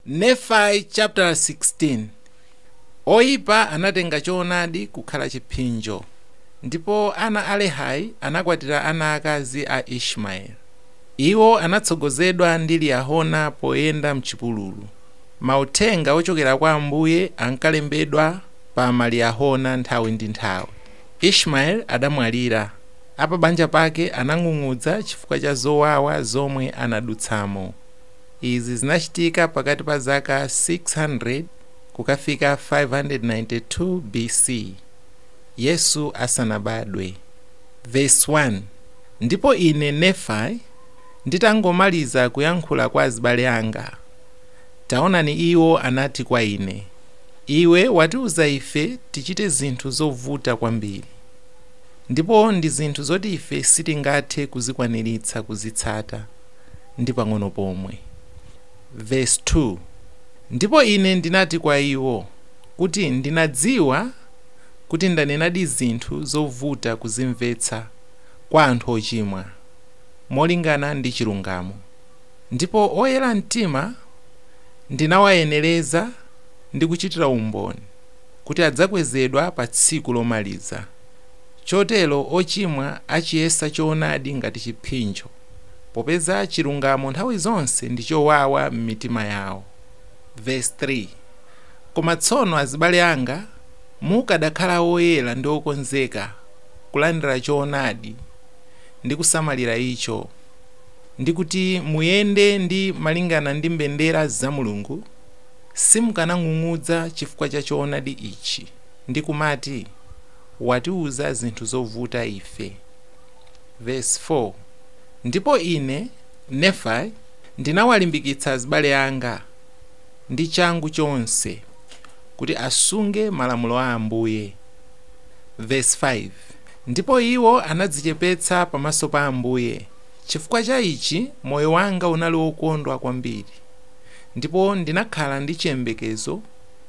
Nefai chaputala 16, Oipa anatenga choonadi kukhala chiphinjo, ndipo ana a Lehai anakwatira ana aakazi a Ishmaeli. Iwo anatsogozedwa ndi Liyahona poyenda m'chipululu. Mauthenga ochokera kwa Ambuye ankalembedwa pa Maliyahona nthawi ndi nthawi. Ishmaeli adamwalira. Apabanja pake anang'ung'udza chifukwa cha zowawa zomwe anadutsamo. Izi zinachitika pakati pa zaka 600 kukafika 592 BC, Yesu asanabadwe. Vesi 1, Ndipo ine, Nefai, nditangomaliza kuyankhula kwa azibale anga, taonani iwo anati kwa ine, Iwe watiuza ife tichite zinthu zovuta kwambiri, ndipo ndi zinthu zoti ife sitingathe kuzikwaniritsa kuzitsata. ndi pang'ono pomwe. Vesi 2, Ndipo ine ndinati kwa iwo, kuti ndinadziwa kuti ndanenadi zinthu zovuta kuzimvetsa kwa anthu ochimwa, molingana ndi chilungamo, ndipo oyera mtima ndinawayenereza ndi kuchitira umboni kuti adzakwezedwa pa tsiku lomaliza, chotero ochimwa achiyesa choonadi ngati chiphinjo. popeza chilungamo nthawi zonse ndi chowawa m'mitima yawo. Vesi 3, Koma tsono, azibale anga, mukadakhala oyera ndi okonzeka kulandira choonadi ndi kusamalira icho, ndi kuti muyende ndi malingana ndi mbendera za Mulungu, simukanang'ung'udza chifukwa cha choonadi ichi, ndi kumati, Watiuza zinthu zovuta ife. Vesi 4, Ndipo ine, Nefai, ndinawalimbikitsa azibale anga ndi changu chonse kuti asunge malamulo a Ambuye, Vesi 5, Ndipo iwo anadzichepetsa pamaso pa Ambuye, chifukwa cha ichi moyo wanga unali wokondwa kwambiri, ndipo ndinakhala ndi chiyembekezo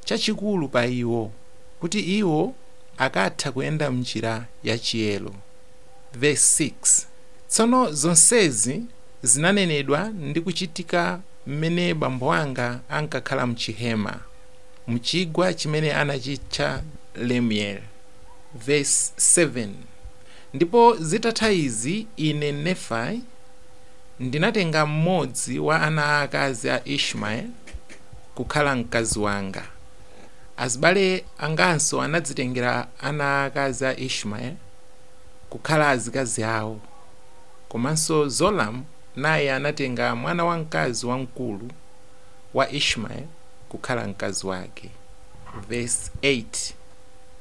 chachikulu pa iwo, kuti iwo akatha kuyenda m'njira ya chiyero. Vesi 6, Tsono zonsezi zinanenedwa ndi kuchitika m'mene bambo anga ankakhala m'chihema, m'chigwa chimene anachitcha Lemueli. Vesi 7, Ndipo zitatha izi ine, Nefai, ndinatenga mmodzi wa ana aakazi a Ishmaeli kukhala mkazi wanga. Azibale anganso anadzitengera ana akazi a Ishmaeli kukhala azikazi awo. Komanso Zoram naye anatenga mwana wamkazi wamkulu wa Ishmaeli kukhala mkazi wake. Vesi 8,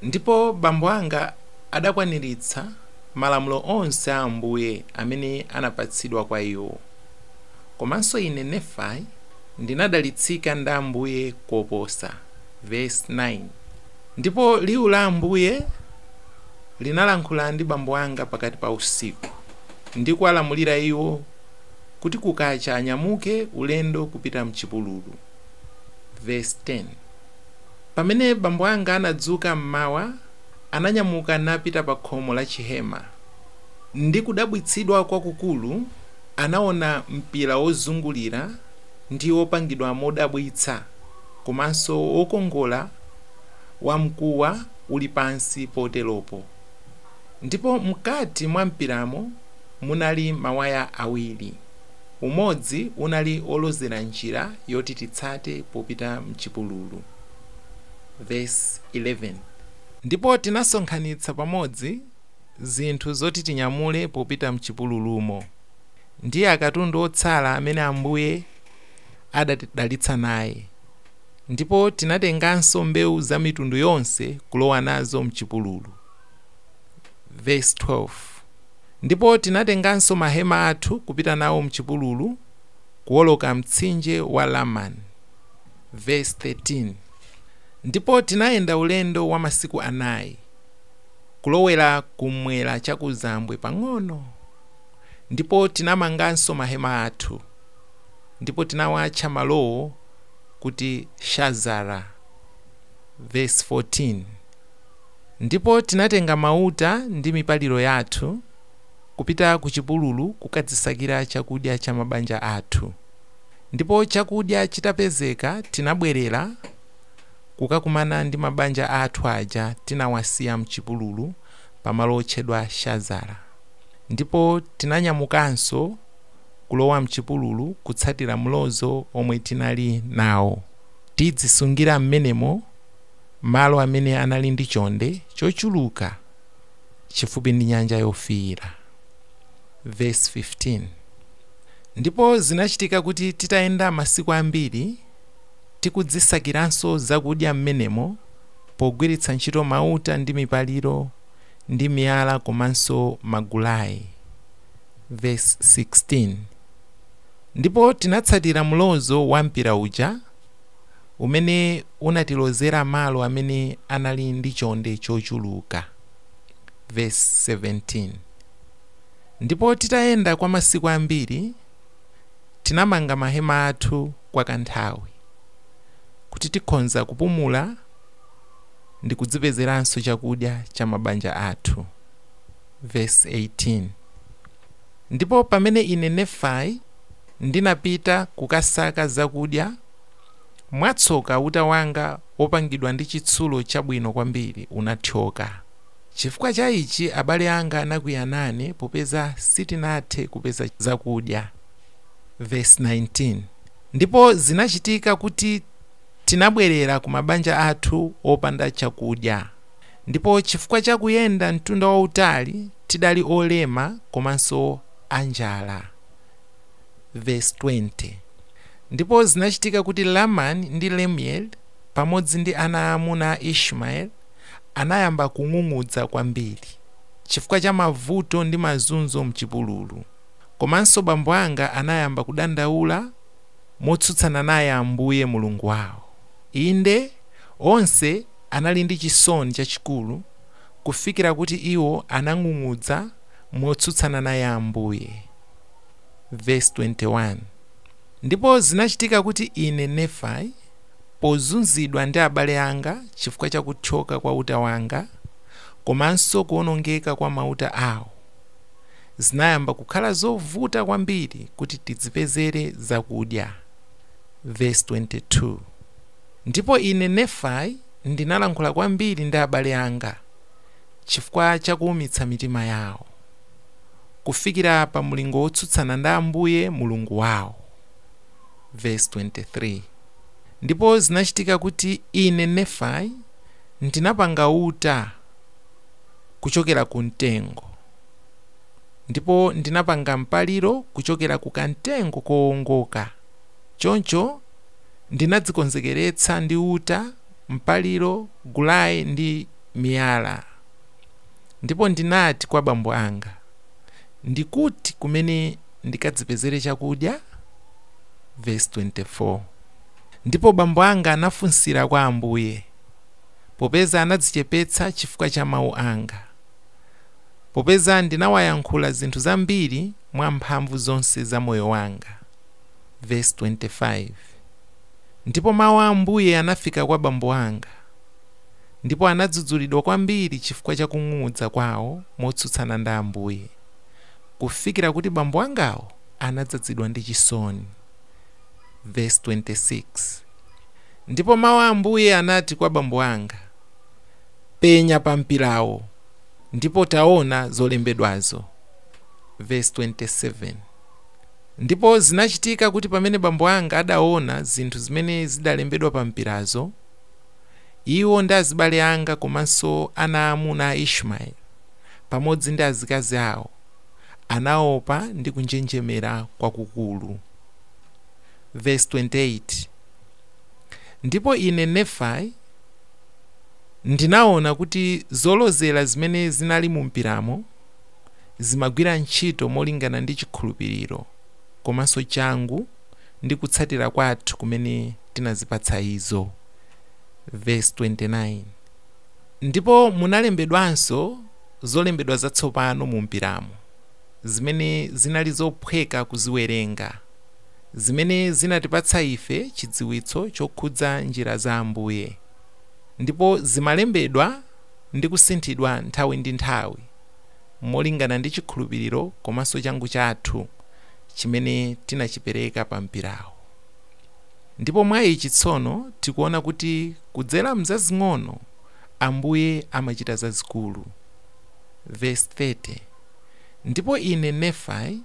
Ndipo bambo anga adakwaniritsa malamulo onse a Ambuye amene anapatsidwa kwa iwo. Komanso ine, Nefai, ndinadalitsika ndi Ambuye koposa. Vesi 9, Ndipo liwu la Ambuye linalankhula ndi bambo anga pakati pa usiku, ndi kuwalamulira iwo kuti kukacha anyamuke ulendo kupita m'chipululu. Vesi 10, Pamene bambo anga anadzuka m'mawa, ananyamuka napita pa khomo la chihema, ndi kudabwitsidwa kwakukulu. Anaona mpira wozungulira ndi wopangidwa modabwitsa komanso wokongola wa mkuwa uli pansi poteropo, ndipo mkati mwa mpiramo munali mawaya awiri, umodzi unali wolozera njira yoti titsate popita m'chipululu. Vesi 11. Ndipo tinasonkhanitsa pamodzi zinthu zoti tinyamule popita m'chipululumo, ndi akatundu otsala amene Ambuye adatidalitsa naye. Ndipo tinatenganso mbewu za mitundu yonse kulowa nazo m'chipululu. Vesi 12, Ndipo tinatenganso mahema athu kupita nawo m'chipululu, kuwoloka mtsinje wa Laman. Vesi 13, Ndipo tinayenda ulendo wa masiku anayi. kulowera kum'mwera chakuzambwe pang'ono. Ndipo tinamanganso mahema athu, ndipo tinawatcha malowo kuti Shazara. Vesi 14, Ndipo tinatenga mauta ndi mipaliro yathu kupita kuchipululu kukadzisakira chakudya cha mabanja athu. Ndipo chakudya chitapezeka, tinabwerera. kukakumana ndi mabanja athu aja tinawasiya m'chipululu pamalo otchedwa Shazara. Ndipo tinanyamukanso kulowa m'chipululu kutsatira mlozo omwe tinali nawo. Tidzisungira m'menemo malo amene anali ndi chonde chochuluka chifupi ndi Nyanja Yofiira. Vesi 15, Ndipo zinachitika kuti titayenda masiku ambiri. Tikudzisakiranso zakudya mmenemo pogwiritsa ntchito mauta ndi mipaliro ndi miyala komanso magulayi. Vesi 16, Ndipo tinatsatira mlozo wa mpira uja umene unatilozera malo amene anali ndi chonde chochuluka. Vesi 17, Ndipo titayenda kwa masiku ambiri, tinamanga mahema athu. kwa kanthawi kuti tikhonza kupumula ndikudzipezeranso chakudya cha mabanja athu. Vesi 18. Ndipo pamene ine Nefai ndinapita kukasaka zakudya, mwatsoka uta wanga wopangidwa ndi chitsulo chabwino kwambiri unathyoka. Chifukwa cha ichi abale anga anakwiya nane popeza sitinathe kupeza zakudya. Vesi 19, Ndipo zinachitika kuti tinabwerera ku mabanja athu opanda chakudya, ndipo chifukwa cha kuyenda mtunda wautali tidali olema komanso a njala. Vesi 20, Ndipo zinachitika kuti Lamani ndi Lemueli, pamodzi ndi ana aamuna a Ishmaeli, anayamba kung'ung'udza kwambiri, chifukwa cha mavuto ndi mazunzo m'chipululu. Komanso bambo anga anayamba kudandaula motsutsana naye Ambuye Mulungu wawo. Inde, onse anali ndi chisoni chachikulu kufikira kuti iwo anang'ung'udza motsutsana naye Ambuye. Vesi 21, Ndipo zinachitika kuti ine, Nefai, pozunzidwa ndi abale anga chifukwa cha kuthyoka kwa uta wanga, komanso kuwonongeka kwa mauta awo, zinayamba kukhala zovuta kwambiri kuti tidzipezere zakudya. Vesi 22, Ndipo ine, Nefai, ndinalankhula kwambiri ndi abale anga chifukwa cha kuumitsa mitima yawo, kufikira pa mlingo wotsutsana ndi Ambuye Mulungu wawo. Vesi 23, Ndipo zinachitika kuti ine, Nefai, ndinapanga uta, kuchokera ku mtengo, ndipo ndinapanga mpaliro kuchokera ku kamtengo kowongoka. Choncho ndinadzikonzekeretsa ndi uta, mpaliro, gulayi ndi miyala. Ndipo ndinati kwa bambo anga, Ndi kuti kumene ndikadzipezere chakudya? Vesi 24, Ndipo bambo anga anafunsira kwa Ambuye. Popeza anadzichepetsa chifukwa cha mawu anga. Popeza ndinawayankhula zinthu zambiri mwa mphamvu zonse za moyo wanga. Vesi 25 Ndipo mawu a Ambuye anafika kwa bambo anga, ndipo anadzudzulidwa kwambiri chifukwa cha kung'ung'udza kwawo motsutsana ndi Ambuye, kufikira kuti bambo angawo anadzadzidwa ndi chisoni. Vesi 26. Ndipo Mawu a Ambuye anati kwa bambo anga, Penya pa mpirawo, ndipo taona zolembedwazo. Vesi 27. Ndipo zinachitika kuti pamene bambo anga adaona zinthu zimene zidalembedwa pa mpirazo, iwo ndi azibale anga komanso ana aamuna a Ishmaeli, pamodzi ndi azikazi awo, anaopa ndi kunjenjemera kwakukulu. Vesi 28, Ndipo ine, Nefayi, ndinaona kuti zolozera zimene zinali mumpiramo zimagwira ntchito molingana ndi chikhulupiriro komanso changu ndi kutsatira kwathu kumene tinazipatsa izo. Vesi 29, Ndipo munalembedwanso zolembedwa zatsopano mumpiramo, zimene zinali zophweka kuziwerenga. zimene zinatipatsa ife chidziwitso chokhudza njira za Ambuye, ndipo zimalembedwa ndi kusinthidwa nthawi ndi nthawi molingana ndi chikhulupiriro komanso changu chathu chimene tinachipereka pa mpirawo. Ndipo mwa ichi tsono tikuona kuti kudzera m'zazing'ono Ambuye amachita zazikulu. Vesi 30, Ndipo ine, Nefayi.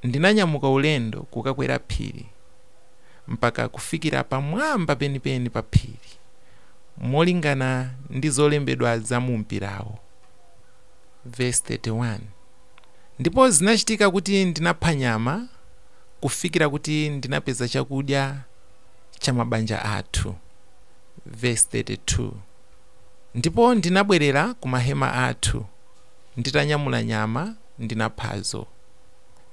ndinanyamuka ulendo kukakwera phiri mpaka kufikira pamwamba penipeni pa phiri, molingana ndi zolembedwa za mu mpirawo. Vesi 31, Ndipo zinachitika kuti ndinapha nyama kufikira kuti ndinapeza chakudya cha mabanja athu. Vesi 32, Ndipo ndinabwerera ku mahema athu, nditanyamula nyama. ndinaphazo.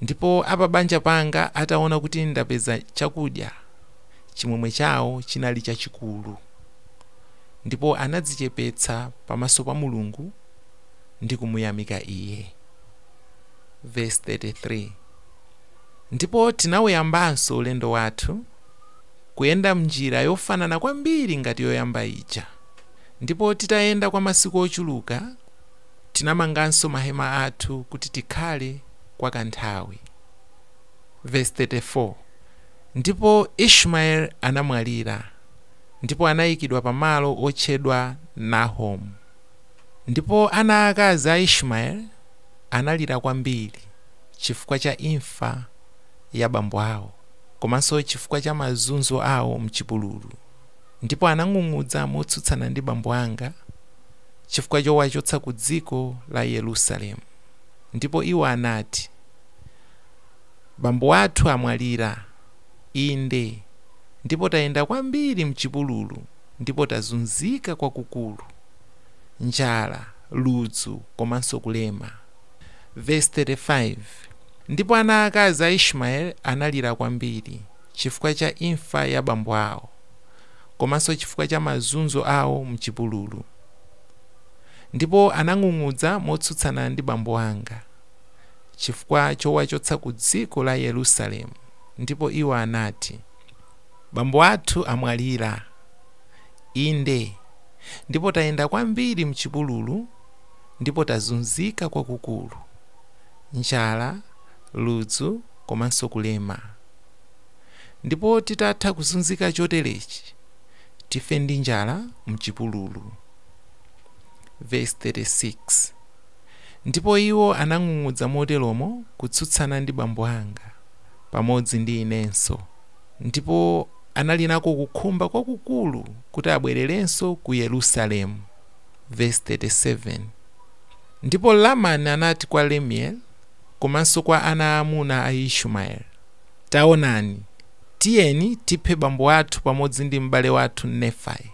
Ndipo apabanja panga ataona kuti ndapeza chakudya, chimwemwe chawo chinali chachikulu, ndipo anadzichepetsa pamaso pa Mulungu ndi kumuyamika Iye. Vesi 33, Ndipo tinauyambanso ulendo wathu, kuyenda m'njira yofanana kwambiri ngati yoyamba ija, ndipo titayenda kwa masiku ochuluka, Tinamanganso mahema athu kuti tikhale kwa kanthawi. Vesi 34, Ndipo Ishmaeli anamwalira, ndipo anayikidwa pamalo otchedwa Nahomu. Ndipo ana aakazi a Ishmaeli analira kwambiri chifukwa cha imfa ya bambo awo komanso chifukwa cha mazunzo awo m'chipululu. ndipo anang'ung'udza motsutsana ndi bambo anga chifukwa chowachotsa ku dziko la Yerusalemu. Ndipo iwo anati, Bambo athu amwalira, inde, ndipo tayenda kwambiri m'chipululu ndipo tazunzika kwakukulu, njala, ludzu komanso kulema. Vesi 35, Ndipo ana aakazi a Ishmaeli analira kwambiri. chifukwa cha imfa ya bambo awo komanso chifukwa cha mazunzo awo m'chipululu. Ndipo anang'ung'udza motsutsana ndi bambo anga chifukwa chowachotsa kudziko la Yerusalemu, ndipo iwo anati, Bambo athu amwalira. Inde, ndipo tayenda kwambiri m'chipululu ndipo tazunzika kwakukulu, njala, ludzu komanso kulema. Ndipo titatha kuzunzika choterechi, tife ndi njala m'chipululu. Vesi 36, Ndipo iwo anang'ung'udza moteromo kutsutsana ndi bambo anga, pamodzi ndi inenso, ndipo anali nako kukhumba kwakukulu kuti abwererenso ku Yerusalemu. Vesi 37, Ndipo Lamani anati kwa Lemueli, komanso kwa ana aamuna a Ishmaeli. Taonani, tiyeni tiphe bambo athu pamodzi ndi m'bale wathu Nefai,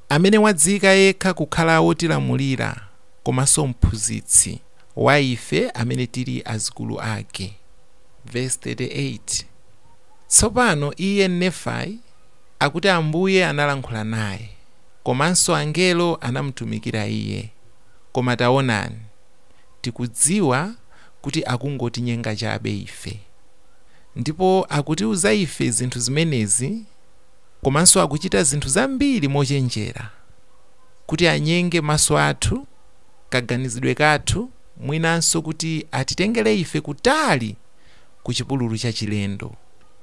amene wadziyika yekha kukhala wotilamulira komanso mphunzitsi wa ife amene tili azukulu ake. Vesi 38, Tsopano iye, Nefai, akuti Ambuye analankhula naye, komanso angelo anamutumikira iye, koma taonani, Tikudziwa kuti akungotinyenga chabe ife. Ndipo akutiuza ife zinthu zimenezi, komanso akuchita zinthu zambiri mochenjera kuti anyenge maso athu, kaganizidwe kathu, mwinanso kuti atitengere ife kutali ku chipululu chachilendo,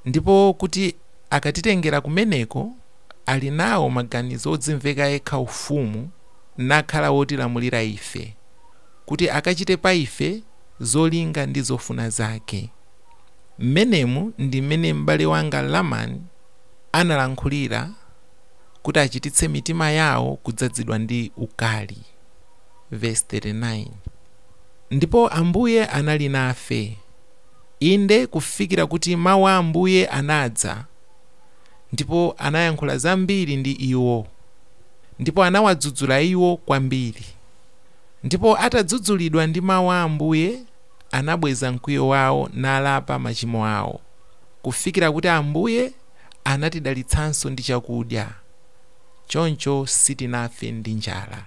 ndipo kuti akatitengera kumeneko ali nawo maganizo odzimveka yekha ufumu, nakhala wotilamulira ife. kuti akachite pa ife zolinga ndi zofuna zake. Mmenemu ndi mmene m'bale wanga Laman analankhulira kuti achititse mitima yawo kudzazidwa ndi ukali, vesi 39. Ndipo Ambuye anali nafe, inde, kufikira kuti mawu a Ambuye anadza, ndipo anayankhula zambiri ndi iwo, ndipo anawadzudzula iwo kwambiri. Ndipo atadzudzulidwa ndi mawu a Ambuye, anabweza mkwiyo wawo nalapa machimo awo, kufikira kuti Ambuye anatidalitsanso ndi chakudya, choncho sitinafe ndi njala.